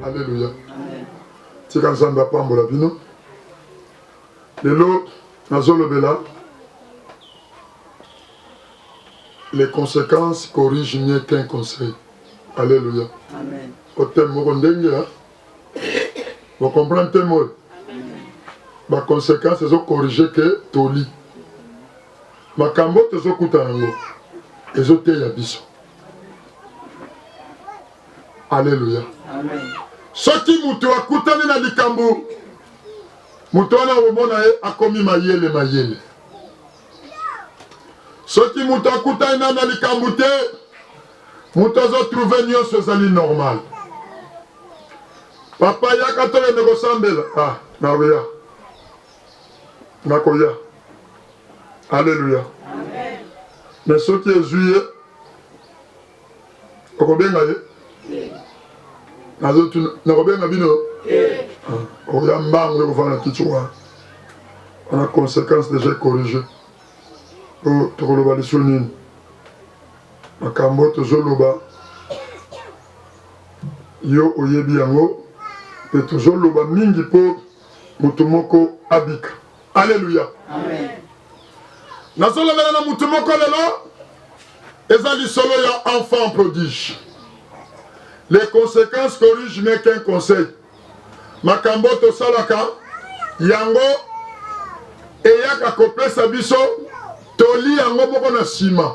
Alléluia. tika nzambe apambola bino lelo nazolobela les conséquences corrigent mieux qu'un conseil alléluia oteme moko ndenge ya bocomprendre teme oyo baconséquence ezocorrige ke toli Makambo tozo kuta nango ezo teya biso. Alleluia. Amen. Soki mutu akutani na likambo moto wana omona ye akomi mayele mayele. Soki moto akutani na na likambo te, moto azotrouve nyonso ezali normal. Papa yaka tokende kosambela ah, naweya nakoya aleluya me soki ezwi ye okobenga ye nazotuna nakobenga bino ah, oya mbangu ekofana kiti wana wana conséquence déjà corrige po tokoloba liso nini makambo tozoloba yo oyebi yango mpe tozoloba mingi mpo Moto moko abika. Aleluya. Nazolobela na moto moko lelo, eza lisolo ya enfant prodige. Les conséquences corrigent mais qu'un conseil. Makambo tosalaka yango eyaka kopesa biso toli yango moko na nsima.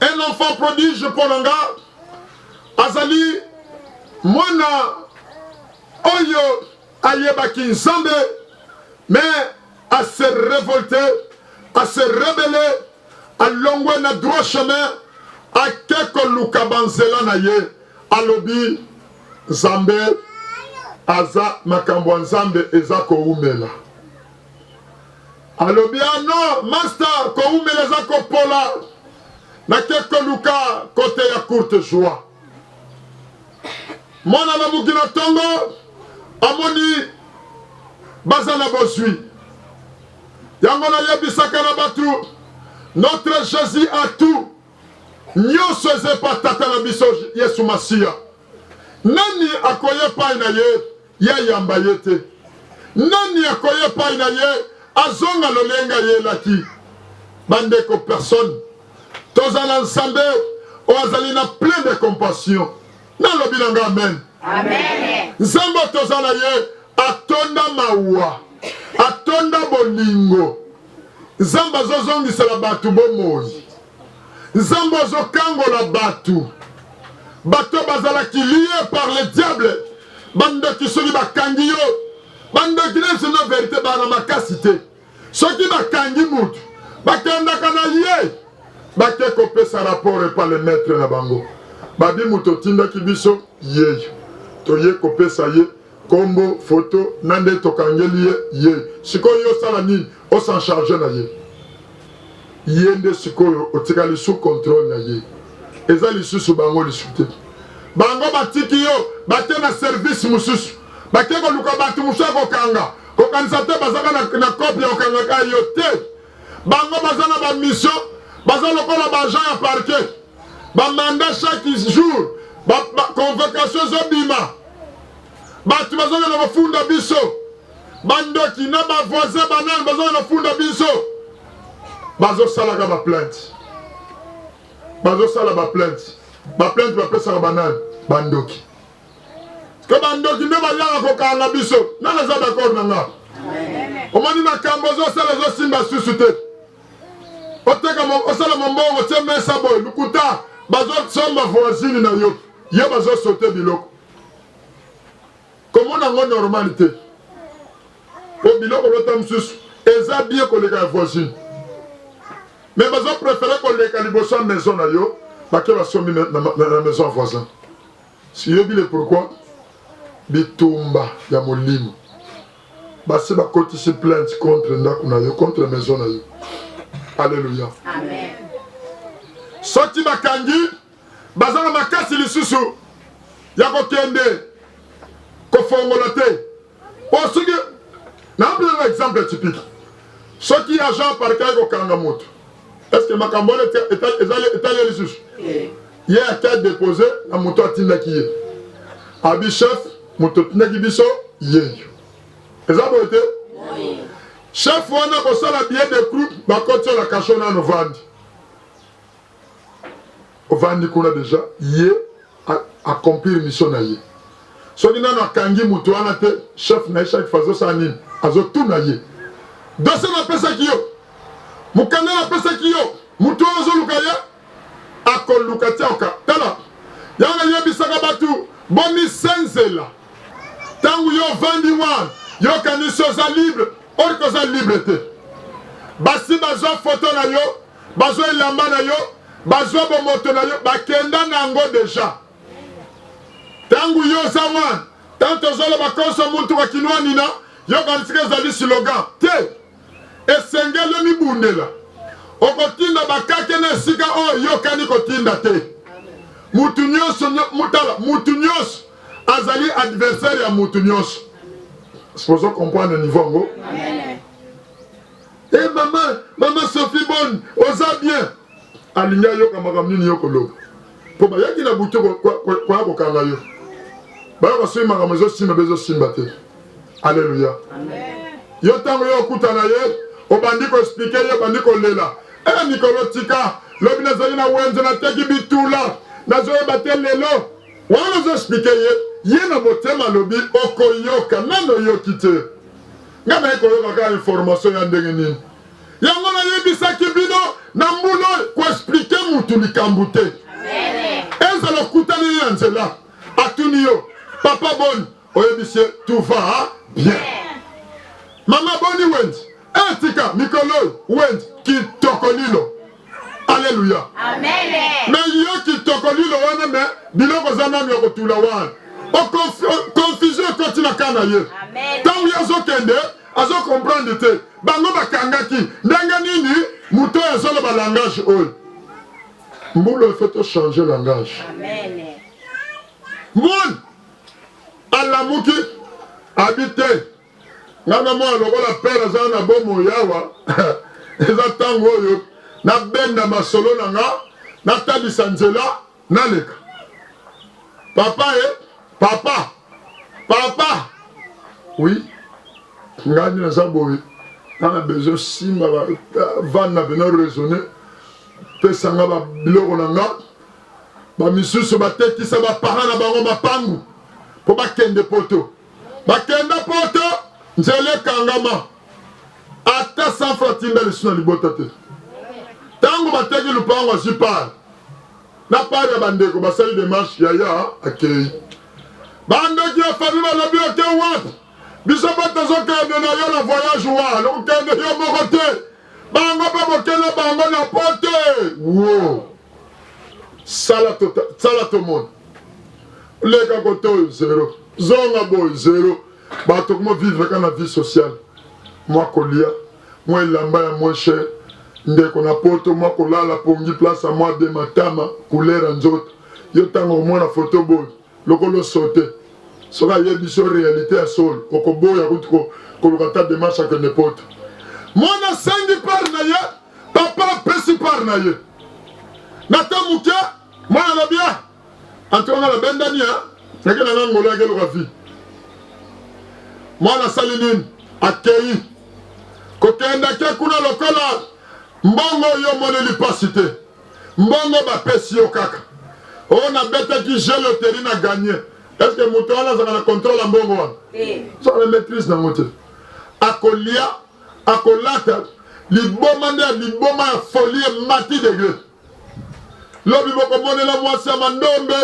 un enfant prodige mpo na nga azali mwana oyo ayebaki nzambe mais à se révolter à se rebeller alongwe na droit chemin ake koluka banzela na ye alobi nzambe aza makambo ya nzambe eza koumela alobi ah non masta kowumela eza kopola nake koluka kote ya courte joie mwana na mokila ntongo amoni baza na bozwi yango nayebisaka na bato notre jésus a tout nyonso eza epa tata na biso yesu masiya nani akoya epai na ye Ya yamba ye te. Nani akoya epai na ye azonga lolenge ayelaki. Bandeko, personne toza na Nzambe oyo azali na plein de compassion. Nalobi na nga amen. Amen. Nzambe toza na ye atonda mawa, atonda bolingo. Nzambe azozongisela bato bomoi. Nzambe azo kangola batu. Bato bazalaki liye par le diable. Bandoki soki bakangi yo, bandoki na biso na verite bana makasi te. Soki bakangi mutu, bakendaka na ye bake kopesa rapport epa le maître na bango. Babi moto otindaki biso yeyo toye kopesa ye kombo foto na nde tokangeli ye ye sikoyo yo osala nini osan charge na ye ye nde sikoyo otikali sous contrôle na ye eza lisusu bango lisu te bango batiki yo bake na service mosusu bake koluka bato mosusu ya kokanga kokanisa te bazaka na, na kope ya kokangaka yo te Bango baza na ba mission, baza lokola ba agent ya parquet. Ba mandat chaque jour, ba, ba convocation ezobima. Bato bazokenda kofunda biso. Bandoki na ba voisin banani bazokenda kofunda biso. Bazosalaka ba plainte. Bazosala ba plainte. Ba plainte bapesaka banani? Bandoki. ke bandoki nde bayaka kokanga biso nani aza d'accord na nga omoni makambo ozosala ezosimba susu te oteka osala mombongo tie mesa boye lokuta bazosomba voisine na yo ye bazosote biloko komona yango normali te po biloko lota mosusu eza bie koleka ya voisine me bazoprefere koleka liboso ya maison na yo bake basombi na maison ya voisin Siyebi le pourquoi bitumba ya molimo. Basi bakotisi plainte contre ndako na yo, contre maison na yo. Alléluia. Amen. Soki bakangi baza na makasi lisusu ya kokende kofongola te. po soki napelanga exemple typique soki agent parquet aye kokanga moto est ce que makambo wana etali ye lisusu ye ata depose na moto atindaki ye abi chef moto otindaki biso yeyo eza boye te chef wana kosala billet de groupe bakotiolaka sho nano vandi ovandi kuna deja ye accomplir mission na ye soki nano akangi moto wana te chef na ye chaque fois azosala nini azotuna ye dose napesaki yo mokanda napesaki yo moto oyo ozoluka ye akoluka tiaoka tala yango nayebisaka bato bomisenzela ntango yo ovandi wana yokanisi oza libre orke oza libre te basi bazwa foto na yo bazwa elamba na yo, bazwa bomoto na yo, bakenda na yango deja. Tangu yo oza wana, tango tozoloba konso muntu wa kinwanina, yo kanisika ezali slogan te, esengeli omibundela. Okotinda bakake na esika oyo yokani kotinda te. Mutu nyonso mutala, mutu nyonso azali adversaire ya mutu nyonso. Sipozo comprendre niveau yango. e mama mama sophie boni oza bien alingi ayoka makambo nini yo koloba mpo bayaki na butu koya kokanga yo bayo basoki makambo ezosimba bezosimba te aleluya yo ntango yo okutana ye obandi koexplike ye obandi kolela e eh, mikolo tika lobi nazali na wenze nateki bitula nazoyeba te lelo wana ozoexplike ye ye na motema alobi okoyoka nano oyoki te nga naye koyoka kaka information ya ndenge nini yango nayebisaki bino na mbula koexplike mutu likambo te ezala okutani ye na nzela atuni yo papa boni oyebisi ye tout va bien mama boni wendi etika eh, mikolo oyo wendi kitoko lilo Alléluia. Amen. Mais yo qui tokolilo wana mais biloko za nanu ya kotula wana. Confusion ekoti na kana ye. Tango ye azokende azo comprendre te. Bango bakangaki ndenge nini moto oyo azoloba langage oyo. Mbula il faut to changer langage. Amen. Mon alamuki abi te nga na mwana lokola pere aza na bomoi awa eza ntango oyo nabenda masolo na nga natalisa nzela naleka papa e papa papa oui ngai nde naza boye nga na besoin simba bavane na bino raisonne pesa nga biloko na nga bamisusu batekisa baparent na bango mapangu mpo bakende poto bakenda poto nzela ekangama ata sanfo atinda lisu na libota te ntango bateki lupango azwi pare na pare ya bandeko basali demarche yaya akei bandoki ya fami balobi oke wapi biso mpe tozokende na yo na voyage wana okokende yo moko te bango mpe bokende bango na pote wo sala tota, sala tomona leka kote oyo zero zonga boye zero bato kuma vivre kaka na vie sociale mwa kolia mwa elamba ya moins cher ndeko na poto mwa kolala pongi place ya mwa de matama couleur ya nzoto yo ntango omona foto boye Lokola osote, soki ayebisi yo realite ya solo, okoboya kutu ko, koluka ata demarche ya kende poto. Mwana asengi part na ye, papa apesi part na ye. Na temps moke, mwana alobi ah, en tout cas nga nabendani ya nake na nga ngolo yake eloka vie. Mwana asali nini? Akei kokendake kuna lokola mbongo oyo omoneli mpasi te. mbongo bapesi yo kaka oyo oh, nabetaki jeu loterie na gagne est ce que moto wana azalaka na contrôle ya mbongo wana so na maîtrise nango te akolia akolata liboma nde ya liboma ya folie mati degre lobi bokomonela mwasi ya mandombe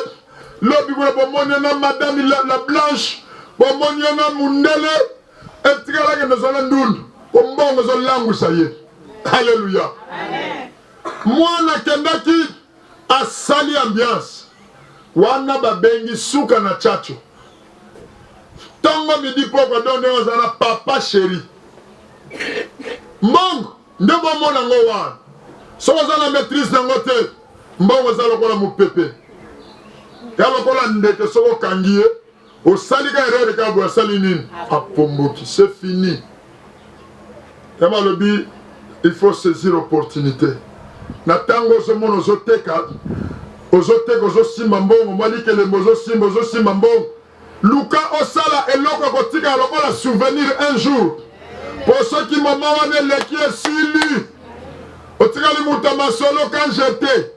lobi kuna bomonela madame la, la blanche bomonela mundele etikalaka nazala ndundu ombongo ezolangwisa ye haleluya Mwana akendaki asali ambiance wana babengi suka na chacho tongo midi pokwa do ndenge aza na papa sheri mbongo nde bomona ngo wana soki oza na maîtrise nango te mbongo eza lokola mopepe ya lokola ndeke soki okangi ye osali ka erreur kaka boye asali nini apomboki c'est fini yama alobi il faut saisir opportunité na ntango ozomona ozoteka ozoteka ozosimba mbongo mwa likelembo ozosimba ozosimba mbongo luka osala eloko ekotikala lokola souvenir un jour mpo soki mama wana eleki esili otikali moto ya masolo kan jete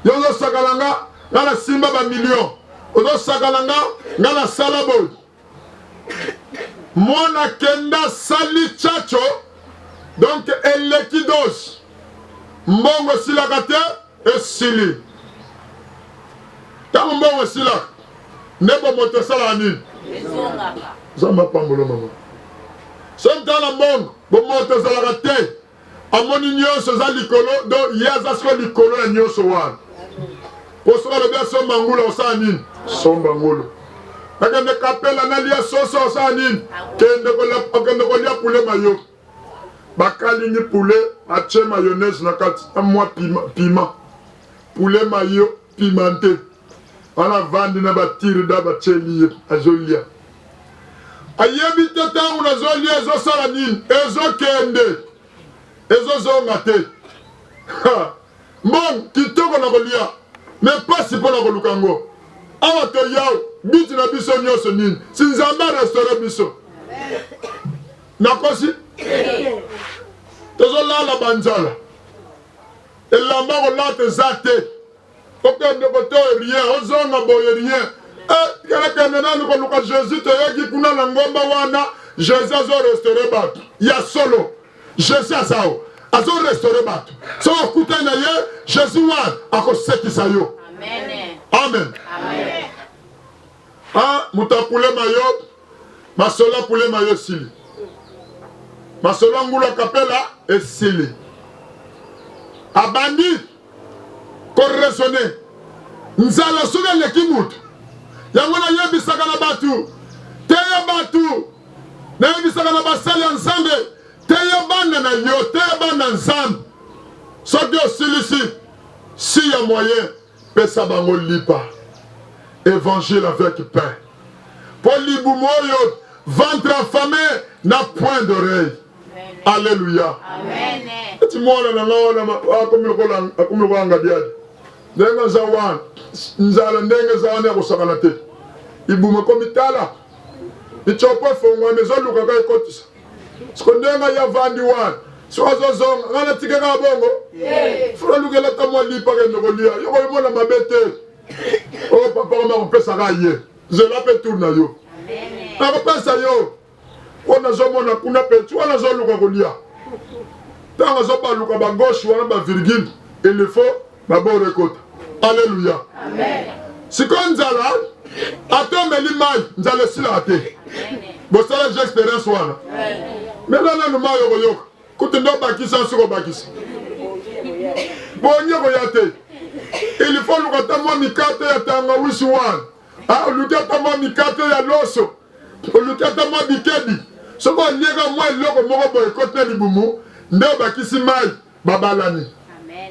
yo ozosakana nga nga nasimba bamillion ozosakana nga nga nasala boye mwana kenda sali chacho donc eleki dose mbongo esilaka te esili ntango mbongo esilaka nde bomoto esalaka nini zamba pambolo mama soki ntala mbongo bomoto ezalaka te amoni nyonso eza likolo do ye aza siko likolo ya nyonso wana mpo soki alobi asomba ngulu akosala nini somba ngulu akende kapela nalia soso akosala nini kende kolia pule mayo bakalingi pule atye mayonnaise na kati na mwa pima pule mayo pimante wana avandi na batirida batyeli ye azolya ayebi te ntango nazolya ezosala nini ezokende ezozonga te mbongo kitoko na kolya me mpasi mpo na koluka yango awa toyao biti na biso nyonso nini si nzambe arestore biso nakosi tozolala banzala elamba kolata eza te okende kote rien ozonga boye rien eh, kelekende nanu koluka jésus toyoki kuna na ngomba wana jésus azo restaure bato ya solo jésus azao azo restaure bato so okutani na ye jésus wana akosekisa yo amen, amen. amen. Ah, moto akulema yo masolo akulema yo esili masolo ya ngulu akapela esili abandi koresone nzala soki eleki moto yango nayebisaka na bato teya bato nayebisaka na basali ya nzambe teya bana na yo teya bana nzambe soki osilisi si ya moyen Pesa bango lipa evangile avec pain po libumu oyo ventre affame na point d'oreille alleluia eti mwana na nga wana akomi lokola akomi lokola ngadiadi ndenge aza wana nzala ndenge eza wana ya kosakana te libumu ekomi tala micopo efongwami ezoluka ka ekotisa siko ndenge ngai avandi wana soki azozonga ngai natika kaka bongo fona lukela ta mwa lipa kende kolia yo koyomona mabe te oyo oh, papa koma kopesaka ye zela mpe tour na yo nakopesa yo oyo nazomona kuna mpe ti wana azoluka kolia ntango azobaluka bagauche wana bavirgule elefo na boro ekota aleluya sikoyo nzala ata omeli mai nzala esilaka te bosala je experience wana mela nanu mai okoyoka kutu nde obakisa nsi kobakisa bonye koya te ilifo oluka ata mwa mikate ya tangawisi wana ah, oluki ata mwa mikate ya loso oluki ata mwa bikebi soki olieka mwa eloko moko boye ekoti na libumu nde obakisi mai babalani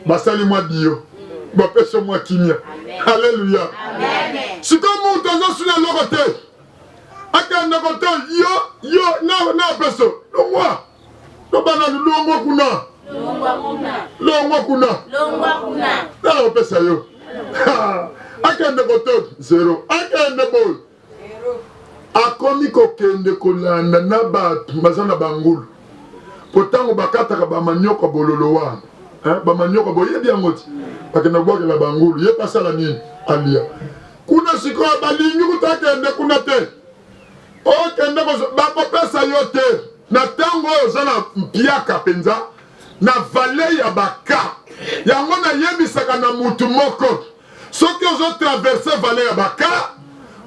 basali mwa dio bapesi mwa kimia aleluya sikoyo moto azosuna eloko te akenda kote yo yo na peso longwa lobana longwa kuna longwa kuna nana opesa yo akende kote zero akende boye akomi kokende kolanda na bato baza na bangulu mpo ntango bakataka bamanioko ya bololo wana eh, bamanioko boyebi yango ti bakenda kobwakela bangulu ye pasala nini alia kuna sikoyo balingi kuta akende kuna te okende bakopesa yo te na ntango oyo oza na mpiaka mpenza na vale ya baka yango nayebisaka na motu moko soki ozo traverse vale ya baka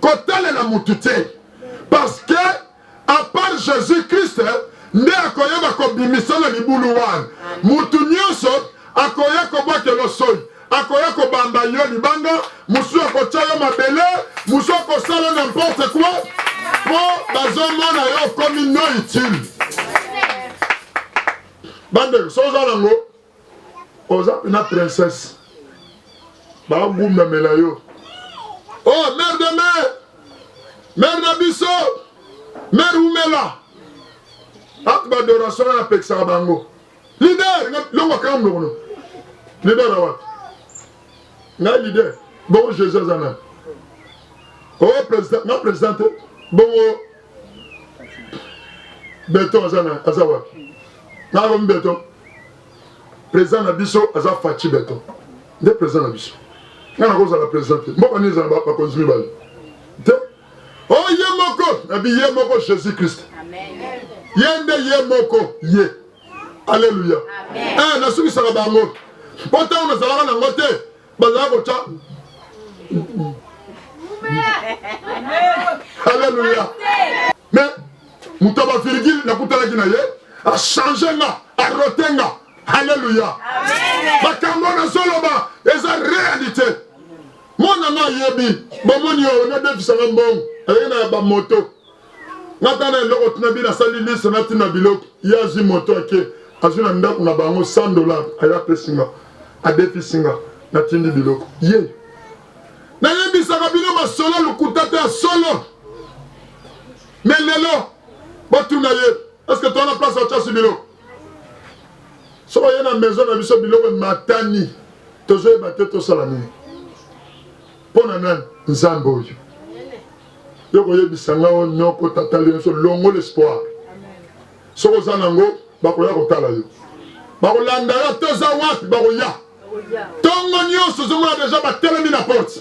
kotalela mutu te parce que à part jesus christ nde akoyeba kobimisa na libulu wana mutu nyonso akoya kobwakelo soi akoya kobamba yo libanga mosusu akotya yo mabele mosusu akosala na mporte kua mpo bazomona yo okomi no utile bandeko soza nango oza pena princesse bagundamela yo oh mère de mère mère na biso mère umela ati badoration wana apekisaka bango lider longo akanga mnokono lider awati nga lider bongo jésus aza nani o oh, président nga président te bongo beton aza na aza wapi nakomi beton président na biso aza faci beton nde président na biso ngai nakozala président te mboka nini ezala bakonzi mibale te o oh, ye moko nabi ye moko jésus christ ye nde ye moko ye alleluya eh, nasukisaka bango mpo ntango nazalaka nango te bazalaki kotya aleluya me moto ya bavirgile nakutanaki na ye achange nga arote nga aleluya makambo nazoloba eza réalité mwana nga ayebi bomoni yo nadefisanga mbongo ayei na ya bamoto natala eloko tina bino asali liste natina biloko ye azwi moto ake azwi na ndako na bango 100 dollar aya apesi nga adefisi nga natindi biloko ye nayebisaka bino masolo lokuta te ya solo me lelo botuna ye eske towana place atyasi biloko soki oye na maison na biso biloko ematani tozoyeba te tosala nini mpo na nani nzambe oyo yo koyebisa nga o noko tata lienso longo l'espoir soki oza nango bakoya kotala yo bakolanda yo ata oza wapi bakoya ntongo nyonso ozomona deja batelemi na porte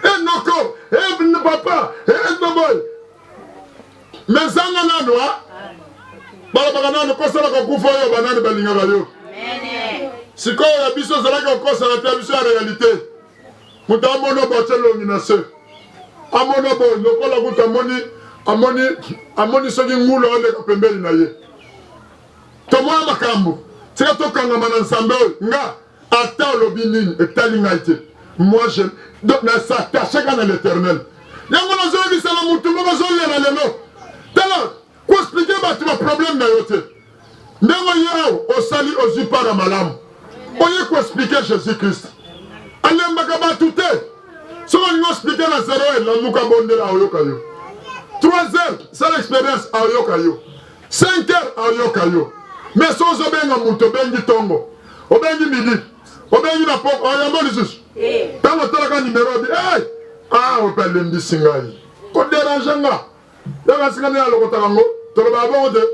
enoko evn papa etoboy mezanga nano a balobaka nano kosalaka kufa oyo banani balingaka yo sikoyo ya biso ozalaki kokosana te ya biso ya realite moto amona bo atye elongi na se amona bo lokola kutu amoni amoni amoni soki ngulu aoleka pembeni na ye tomona makambo tika tokangama na nzambe oyo nga ata olobi nini etali ngai te moi je nasatacheka na l'éternel yango nazoyebisa na motu moko azolela lelo tala Ko expliquer bato ba problème na yo te. Ndenge oye awa osali ozwi part ya malamu. Oye ko expliquer Jésus Christ. Alembaka bato te. Soki olingi expliquer na 0 heure lamuka bondela aoyoka yo. 3 heures sala expérience aoyoka yo. 5 heures aoyoka yo. Mais soki ozobenga moto obengi tongo, obengi midi, obengi na poko oyambo lisusu ntango eh. otalaka nimero obi hey! ah ope alembisi ngai koderange nga Ntango ya sika nde alokotaka yango, tolobaka bongo te?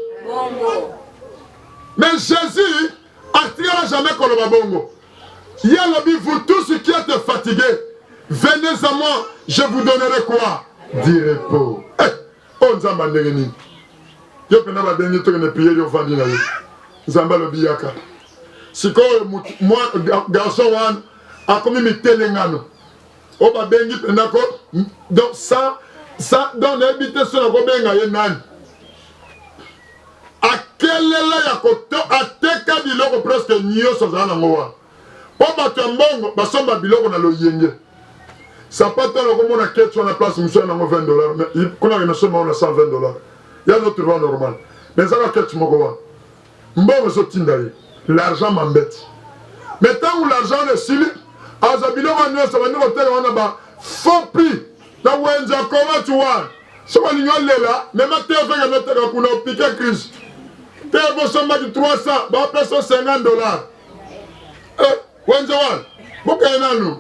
Mais Jésus atikala jamais koloba bongo. Ye alobi, vous tous qui êtes fatigués, venez à moi, je vous donnerai quoi? Du repos. Eh, oyo oh, Nzambe andenge nini? Yo mpenza babengi tokende priere yo ofandi na yo. Nzambe alobi yaka. Sikoyo garçon wana akomi mitelengano. oyo babengi mpenza ko donc sa sa donc nayebi te so nakobenga ye nani akelela ya koto ateka biloko presque nyonso azala nango wana mpo bato ya mbongo basomba biloko na loyenge sapato wana okomona keti wana place mosu ya nango 20 dollar kuna ke nasomba wana 120 dollar ya notruva normal mais ezaka keti moko wana mbongo ezo tinda ye l'argent m'embete mais tangu l'argent wana esili aza biloko nionso abandi koteka wana ba faux prix na wenze ya koma tu wana soki olingi olela mema te ofeka noteka kuna opike crise te bosombaki 300 bapesa 50 dollars eh, wenze wana bokeye nanu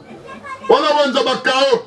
wana wenze bakao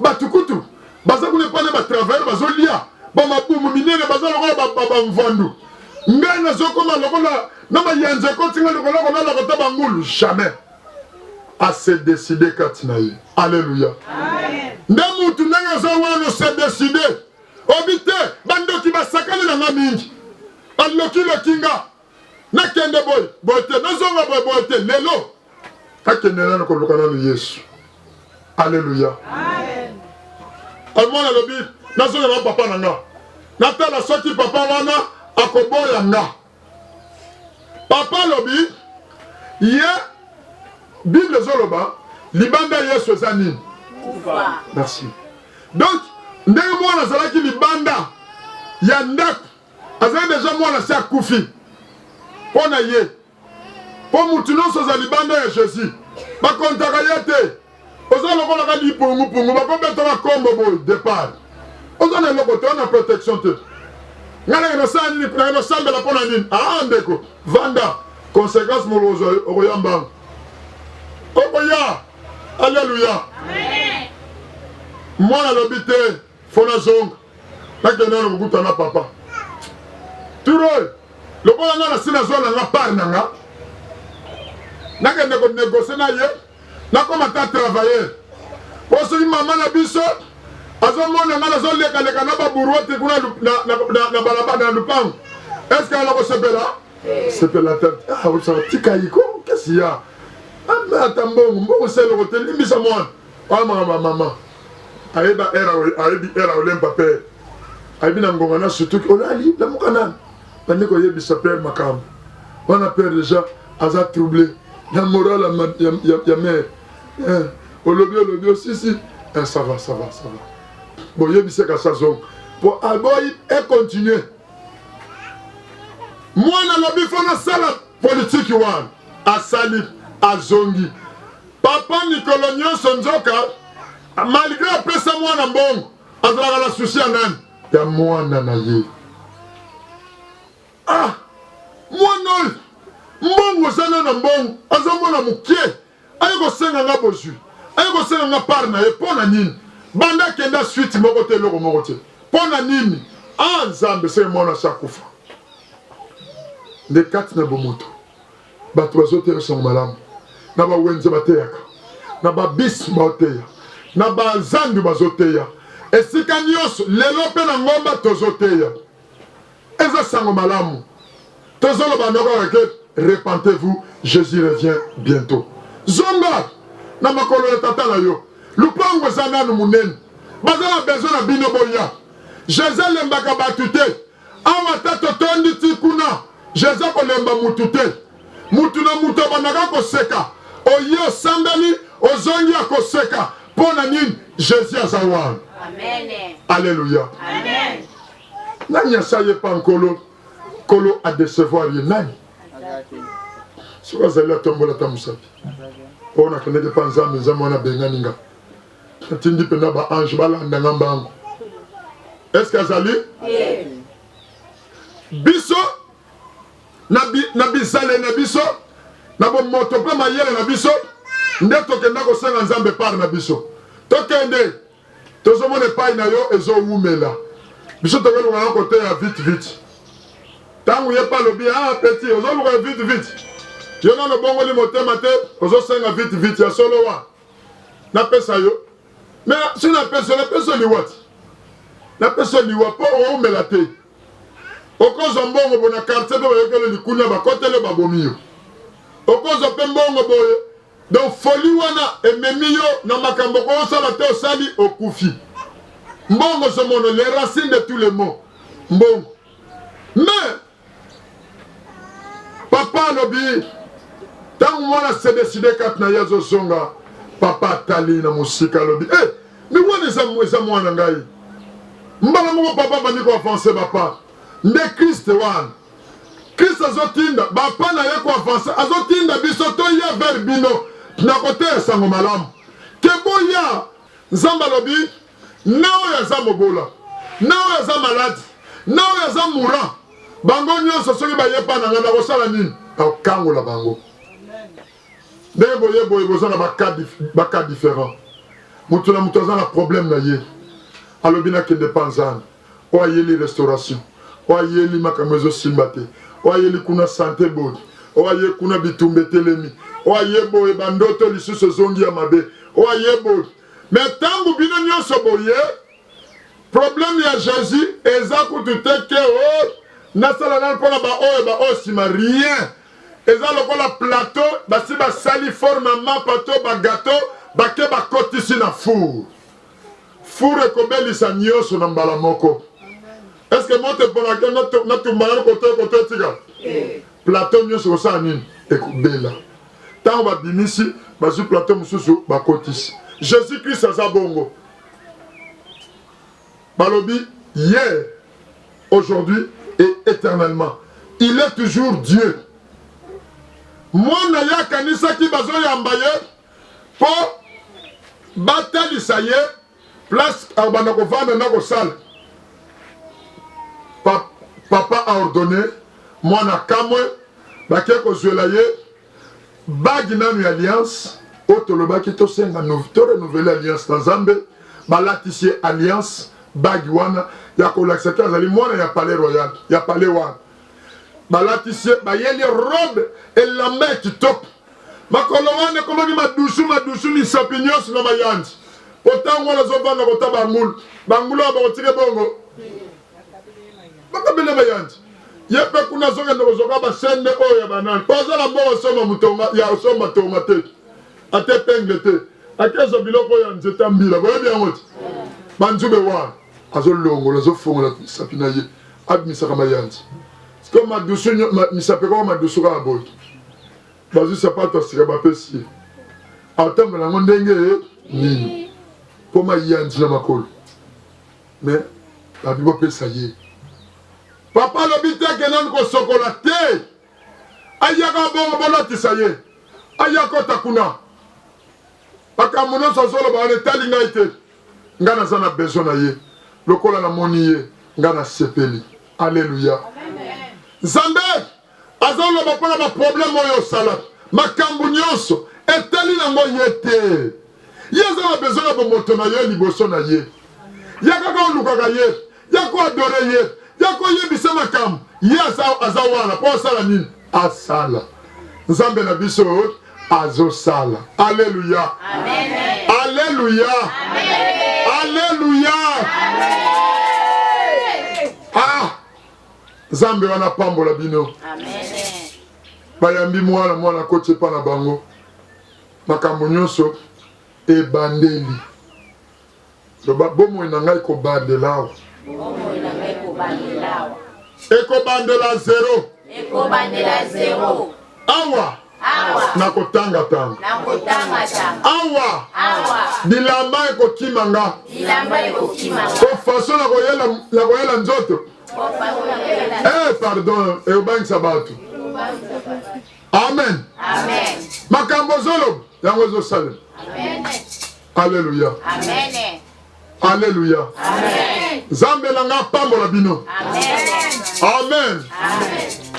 Batu kutu baza kuna epai na ba travailleurs bazolia ba mabumu minene baza lokola ba, ba, ba mvandu ngai nazokoma lokola na mayanza ekoti ngai lokola kolala kota bangulu jamais ase decide kati na ye aleluya nde mutu ndenge aza wana se decide obi te bandoki basakani na nga mingi alokiloki nga nakende boye boye te nazonga boye boye te lelo akende nano koluka nano yesu aleluya omwana alobi nazonga na papa na nga natala soki papa wana akoboya nga papa alobi ye bible ezoloba libanda ya yesu eza nini merci donc ndenge mwana azalaki libanda ya ndako azali deja mwana se akufi mpo na ye, mpo motu nyonso aza libanda ya Jésus, bakontaka ye te. Oza lokola ka lipungupungu, bakobetaka kombo boye depart, oza na eloko te, wana protection te. Ngai nake nasala nini? Nake nasambela mpo na nini? Aa ah, ndeko, vanda consequence molozo okoya mbangu, okoya. Aleluya, mwana alobi te fona zonga nakende nano kokuta na papa turol lokola nga nasi nazwa na nga part na nga nakende konegocie na ye nakoma ta travailleur po soki mama na biso azomona nga nazolekaleka na baburuete kuna na balabala na lupango eske ala kosepela sepela ah, tika yiko kasi ya ata mbongo mbongo seloko te limbisa mwana oyo makambo ya mama ayeba era ayebi era olemba pe ayebi na ngonga na sutuki olali lamuka nani bandi koyebisa pere makambo wana pere deja aza trouble na moral ya, ya, ya, ya mare eh, olobi olobi osisi eh, ça va ça va ça va boyebisaka sazonga po aboyi econtinue mwana na bifo nasala politiki wana asali azongi Papa mikolo nyonso nzoka malgre apesa mwana mbongo azalaka na susi ya nani? Ya mwana na ye. Ah, mwana oyo mbongo ozana na mbongo azomona moke aye kosenga nga bozwi aye kosenga nga part na ye mpo na nini? Banda akenda suite moko te eloko moko te mpo na nini? Ah, Nzambe seke mwana asi akufa nde kati na bomoto Bato bazotera sango malamu na ba wenze bateyaka na ba bus baoteya na ba zandu bazoteya esika nioso lelo pe na ngomba tozoteya eza sango malamu tozoloba noko kaka ke repentez vous Jesus revient bientot zonga na makolo ya tata na yo lupango eza nanu munene baza na besoin na bino boya Jesus alembaka batu te Awa ata totondi ti kuna, Jesus akolemba mutu te. Mutu na mutu abandaka koseka, oye osambeli ozongi ya koseka mpo na nini? Jesus aza wana. Aleluya! Nani asaye pa nkolo nkolo adecevoir ye nani? Soki azali atombola ta mosapi mpo nakendeki mpa Nzambe, Nzambe wana abengani nga atindi mpenza ba ange balanda nga mbango eske azali biso na bizale na biso na bomoto mpe mayele na biso nde tokenda kosenga nzambe pare na biso tokende tozomona epai na yo ezowumela biso tokolonga na kote ya vite vite ntango ye mpe alobi a ah, peti ozoluka vite vite yo nano obongoli motema te ozosenga vite vite ya solo wa Na pesa yo. Mais si na pesa na pesa liwati. Na pesa liwa po o mela te. Okozo mbongo bona quartier pe bayokelo likunya bakotele babomi yo. Okozo pe mbongo boye. Donc folie wana ememi yo na makambo ko osala te osali okufi. Mbongo somono les racines de tous les maux. Mbongo. Mais Papa alobi ntango mwana sedeside kati na ye azozonga, papa atali na mosika alobi e eh, miwana eza mwana ngai. Mbala moko papa abandi koavanse bapa nde kriste wana krist azotinda bapa na ye koavanse azotinda biso toya vers bino na koteya sango malamu te boya nzambe alobi na oyo aza mobola, na oyo aza maladi, na oyo aza mura, bango nyonso soki baye epai na ngai nakosala nini? Nakokangola bango. Ndenge boye boye boza na baka different, moto na moto aza na problème na ye. Alobi nakende pa Nzambe oyo ayeli restauration, oyo ayeli makambo ezosimba te, oyo ayeli kuna sante bodi, oyo aye kuna bitumba etelemi, oyo aye boye bandoto lisusu ezongi ya mabe, oyo aye bodi Mais tangu bino nionso boye problème ya Jésus eza kutu te ke o oh, nasala nani mpona baoyo baoyo nsima rien eza lokola plateau basi basali forme ya mapa to bagato bake bakotisi na four four ekobelisa nyonso na mbala moko estce moto eponaka natumbala kotoyo kotoyo tika plateau nyonso kosala nini ekobela tango babimisi bazwi plateau mosusu bakotisi jesus christ aza bongo balobi hier aujourd'hui et éternellement il est toujours dieu mwana ye akanisaki bazoyamba ye mpo batalisa ye place akobanda kovanda na kosala pa, papa aordonne mwana kamwe bake kozwela ye bagi nanu ya alliance oyo tolobaki tosenga to renouvele alliance na nzambe balatisi ye alliance bagi wana ya kolakisa te azali mwana ya palais royal ya palais wana balatisi ye bayeli robe elamba ya kitoko makolo wana ekomaki madusu madusu misapi nyonso na mayanzi mpo ntango wana azovanda kota bangulu bangulu oyo bakotike bongo bakabele mayanzi ye mpe kuna azokende kozoka basende oyo ya banani mpo aza na mboka osomba motonga ya osomba tonga te ate penge te akezwa biloko ya nzete mbila boyebi yango te banzube wana azolongola azofongola misapi na ye abimisaka mayanzi siko madusu misapi ekoma madusu kaka boye bazwi sapato ya sika bapesi ye atambola yango ndenge nini mpo mayanzi na makolo me babi bopesa ye papa alobi te ke nani kosokola te ayaka bongo bolatisa ye aya kota kuna makambo nyonso azoloba wana etali ngai te Nga naza na besoin na ye lokola na moni ye nga na sepeli alleluia nzambe azo loba pona ba problème oyo osalaki makambu nionso etali na ngo ye te ye aza na besoin na bomoto na yo liboso na ye ya kaka olukaka ye ya ko adore ye ya koyebisa makambo ye aza wana mpo asala nini asala nzambe na biso azosala aleluya aleluya aleluya ah nzambe wana apambola bino bayambi mwana mwana koti epa na bango makambo nyonso ebandeli Loba bomoi na ngai ekobandela awa. Bomoi na ngai ekobandela awa. Ekobandela zero. Ekobandela zero. Awa. Awa. Nakotanga tanga. Nakotanga tanga. Awa. Awa. Bilamba ekokima nga. Bilamba ekokima nga. Ko façon na koyela na koyela nzoto. Ko façon na koyela. Eh pardon, eobangisa bato. Amen. Amen. Makambo zolo yango ezosalema. Amen. Alleluia. Amen. Alleluia. Amen. Zambe na nga pambola bino. Amen. Amen.